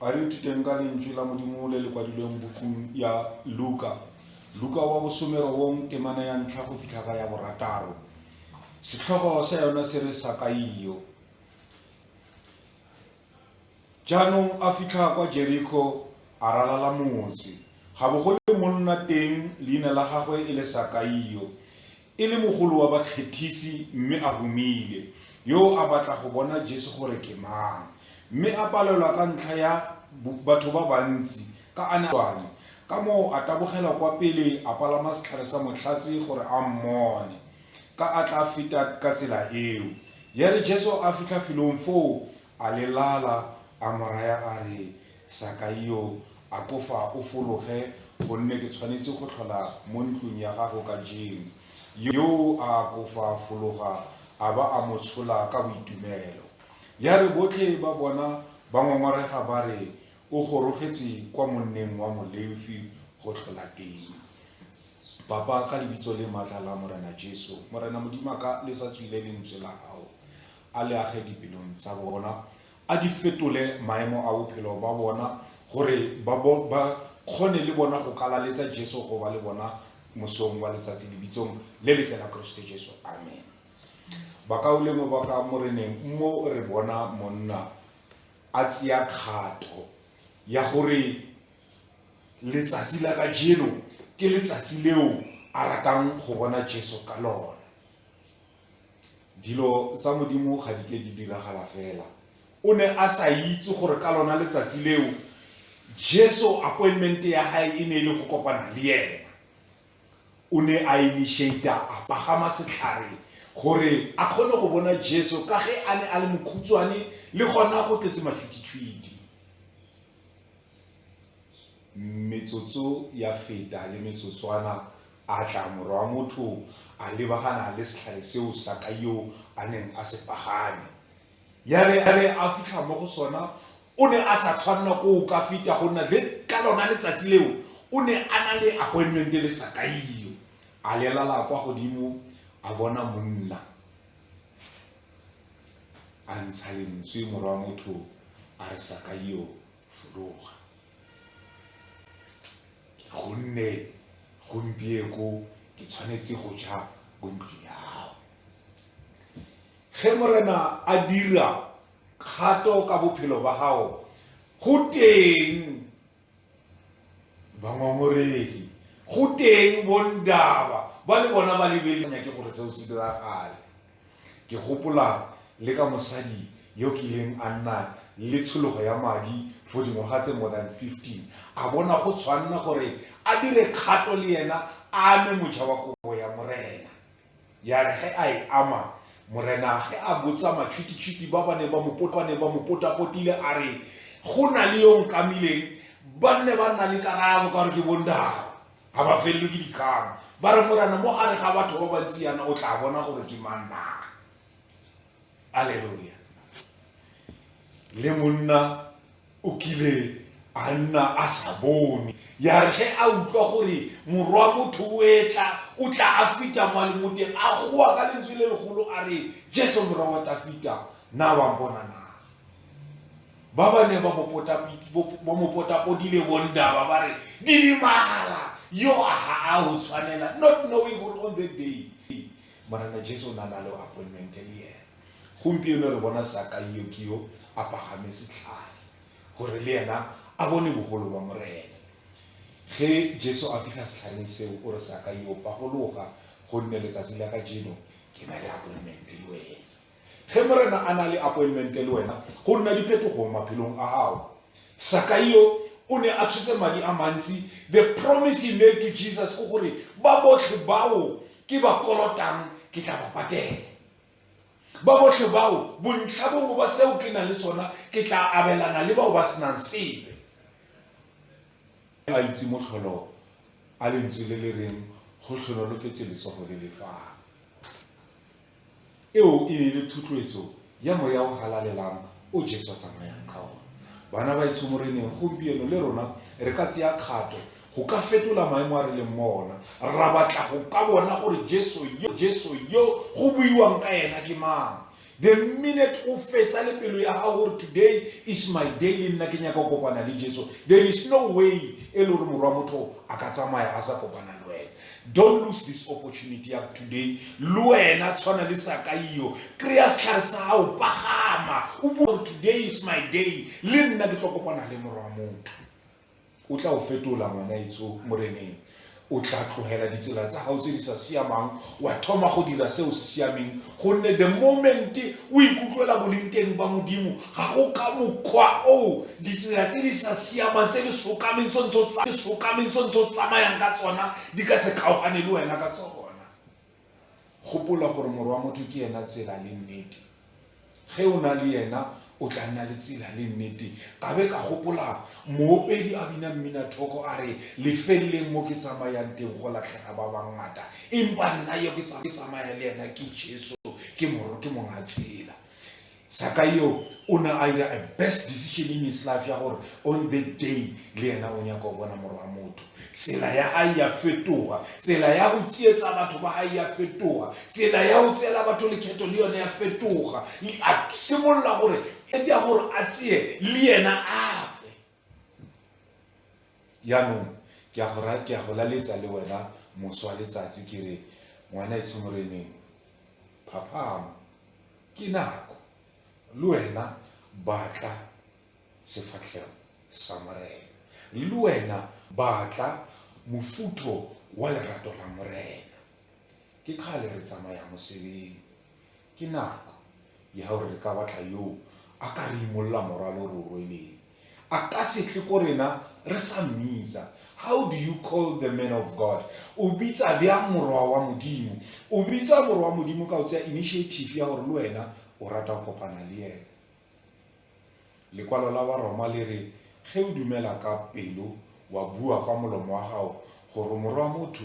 A re ithuteng ka lentswe la Modimo le le kwadilweng bukung ya Luka. Luka wa bosomerobong temana ya ntlha go fitlha ka ya borataro. Setlhogo sa yona se re Sakaio. Jaanong a fitlha kwa Jeriko a ralala motse. Ga bogole monna teng leina la gagwe e le Sakaio. E le mogolo wa bakgethisi mme a humile, yo a batla go bona Jesu gore ke mang. Mme a palelwa ka ntlha ya batho ba bantsi, ka a ne a tswale. Ka moo a tabogela kwa pele a palama setlhare sa motlhatsi gore a mmone, ka a tla feta ka tsela eo. Ya re Jesu a fitlha felong foo, A le lala, a mo raya a re, Sakaio, akofa o fologe, gonne ke tshwanetse go tlhola mo ntlong ya gago ka jeno. Yoo a akofa a fologa, a ba a mo tshola ka boitumelo. Ya re botlhe ba bona ba ngongorega ba re, O gorogetse kwa monneng wa Molefi go tlhola teng. Papa, ka lebitso le maatla la Morena Jesu, Morena Modimo a ka lesa tswile lentswe la gago. a le age dipelong tsa bona a di fetole maemo a bophelo ba bona gore ba kgone le bona go kalaletsa jesu go ba le bona mosong wa letsatsi lebitsong le letle la keresete jesu amen bakaolengwe ba ka mo reneng mo re bona monna a tseya kgato ya gore letsatsi la ka jeno ke letsatsi leo a ratang go bona jesu ka lona dilo tsa modimo ga di ke di diragala fela o ne a sa itse gore ka lona letsatsi leo jesu appointment ya gae e ne e le go kopana le ena o ne a initiata a pagama setlhare gore a kgone go bona jesu ka ge a ne a le mokhutshwane le gona go tletse matshwititshwiti Metsotso ya feta le metsotswana a tla, Morwa wa motho a lebagana le setlhare seo Sakai yo a neng a se pagame. Ya re a re a fitlha mo go sona, o ne a sa tshwanela ko o ka feta go nna le ka lona letsatsi leo o ne a na le appointment le Sakai yo. A lelala kwa godimo a bona monna a ntsha lentswe, Morwa wa motho a re, Sakai yo, fologa. gonne gompieko ke tshwanetse go ja ko ntlong ya gago ge morena a dira kgato ka bophelo ba gago go teng bangongoregi go teng bondaba ba le bona ba lebelenya ke gore seo se diragale Ke gopola le ka mosadi yo kileng a nna le tshologo ya madi for dingwaga tse more than 15 a bona go tshwanna gore a dire kgato le ena a ame moja wa kobo ya morena ya re ge a e ama morena ge a botsa matšhwititšhwiti ba ba ne ba mo potapotile a re go na le yo nkamileng ba nne ba nna le karabo ka gore ke bondaba ga ba felelwe ke dikgang ba re morana mo gare ga batho ba bantsi yana o tla bona gore ke mang na aleluya le monna o kile a nna a sa bone ya re ge a utlwa gore morwa motho o etla o tla a fita mo le moteng a goa ka lentswe le legolo a re jesu morwa wa tafita na wa bona na Ba ba neng ba mo potapodile bondaba ba re, Didimala! Yoa ha a ho tshwanela, not knowing gore on that day Morena Jesu o ne a na le appointment le yena. Gompieno re bona sakaio ke yo a pagame setlhale gore le yena a bone bogolo ba Morena. Ge Jesu a fitlha setlhareng seo, o re sakaio pagologa gonne letsatsi la ka jeno ke na le appointment le wena. Ge Morena a na le apointmente le wena, go nna diphetogo maphelong a gago. Sakai yo o ne a tshotse madi a mantsi. The promise he made to Jesus ke gore ba botlhe bao ke ba kolotang ke tla ba patela. Ba botlhe bao bontlha bongwe ba seo ke nang le sona ke tla abelana le bao ba senang sepe. A itse motlholo a lentswe le le reng go tlhonolofetse letsogo le le fang. Eo e ne e le thotloetso ya moya o halalelang o Jesu a tsamayang ka ona. Bana ba etsho moreneng, gompieno le rona re ka tseya kgato go ka fetola maemo a re leng mo ona, ra batla go ka bona gore Jesu yo, Jesu yo go buiwang ka ena ke mang. The minute o fetsa le pelo ya gago gore today is my day le nna ke nyaka go kopana le Jesu, there is no way e le gore morwa motho a ka tsamaya a sa kopana le wena. don't lose this opportunity of today le wena tshwana le sakaio kry-a setlhare sa gago pagama o bua today is my day le nna ke tlo kopana le morwa motho o tla o fetola ngwana etso moreneng o tla tlogela ditsela tsa gago tse di sa siamang wa thoma go dira seo se siameng gonne the moment o ikutlwela boleng teng ba modimo Ga go ka mokgwa o ditsela tse di sa siamang tse di sokameng tse ntse o tsamayang ka tsona di ka se kgaogane le wena ka tsona. Gopola gore Morwa wa Motho ke ena tsela le nnete. Ge o na le ena, o tla nna le tsela le nnete. Ka be ka gopola moopedi a bina mmina thoko a re, lefeleleng mo ke tsamayang teng go latlhega ba bangata, empa nna yo ke tsamaya le ena ke Jesu, ke Morwa, ke Monga Tsela. zakayo o ne a ira a best decision in his life ya gore on the day le ena o nyaka go bona moro wa motho tsela ya gae ya fetoga tsela ya go tsietsa batho ba gae ya fetoga tsela ya go tseela batho lekgetho le yone ya fetoga a simolola gore e dia gore a tseye le ena a jaanong ke a go ra ke a go laletsa le wena moso wa letsatsi ke re ngwana e tshomoreneng phaphama ke nako le wena batla sefatlhego sa morena le wena batla mofutho wa lerato la morena ke kgale re tsamaya mosebeng Ke nako ya gore re ka batla yo a ka re imolola morwalo o re o rweleng. A ka se tle ko rena re sa mmitsa. How do you call the man of God? O bitsa bjang morwa wa Modimo? O bitsa morwa wa Modimo ka o tseya initiative ya gore le wena o rata go kopana le ene. Lekwalo la Baroma le re ge o dumela ka pelo wa bua kwa molomo wa gago gore morwa wa motho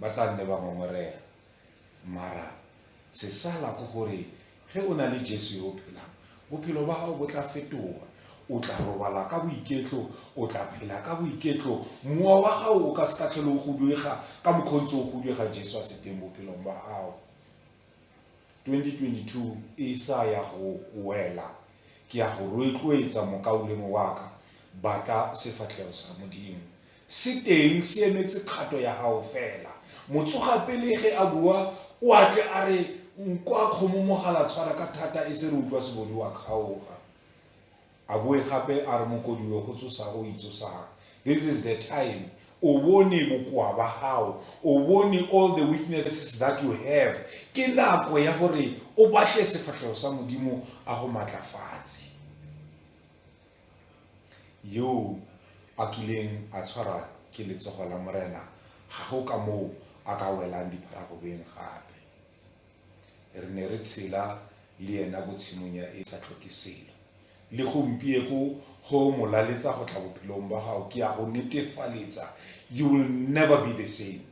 Ba tla nne ba ngongorega. Mara se sala ko gore ge o na le Jesu yo o phelang, bophelo ba gago bo tla fetoga. O tla robala ka boiketlo, o tla phela ka boiketlo. Mowa wa gago o ka se ka tlhole o guduega ka mokgontse o guduega Jesu a se teng bophelong ba gago. 2022 e sa ya go wela ke ya go roetloetsa mokaulengwe wa ka batla sefatlhego sa modimo se teng se emetse kgato ya gago fela motsoga pele ge a bua o atle a re nkwa kgomo mogala tshwara ka thata e se re utlwa sebodi wa kgaoga A boe gape a re Mokodiwe go tsosa o itsosang. This is the time o bone bokoa ba gago o bone all the weaknesses that you have ke nako ya gore o batle sefatlhego sa modimo a go matlafatse yo a kileng a tshwara ke letsogo la morena ga go ka moo a ka welang dipharagobeng gape re ne re tshela le ena ko tshimong ya e sa tlhoke selo le gompieko go molaletsa go tla bophelong ba gago ke ya go netefaletsa you will never be the same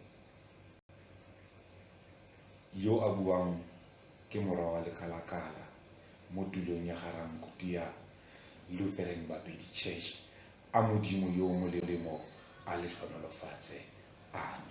yo a buang ke mora wa lekalakala mo tulong ya garankuti ya lutheran bapedi church a modimo yo o molelemo a le tlhonolofatse ame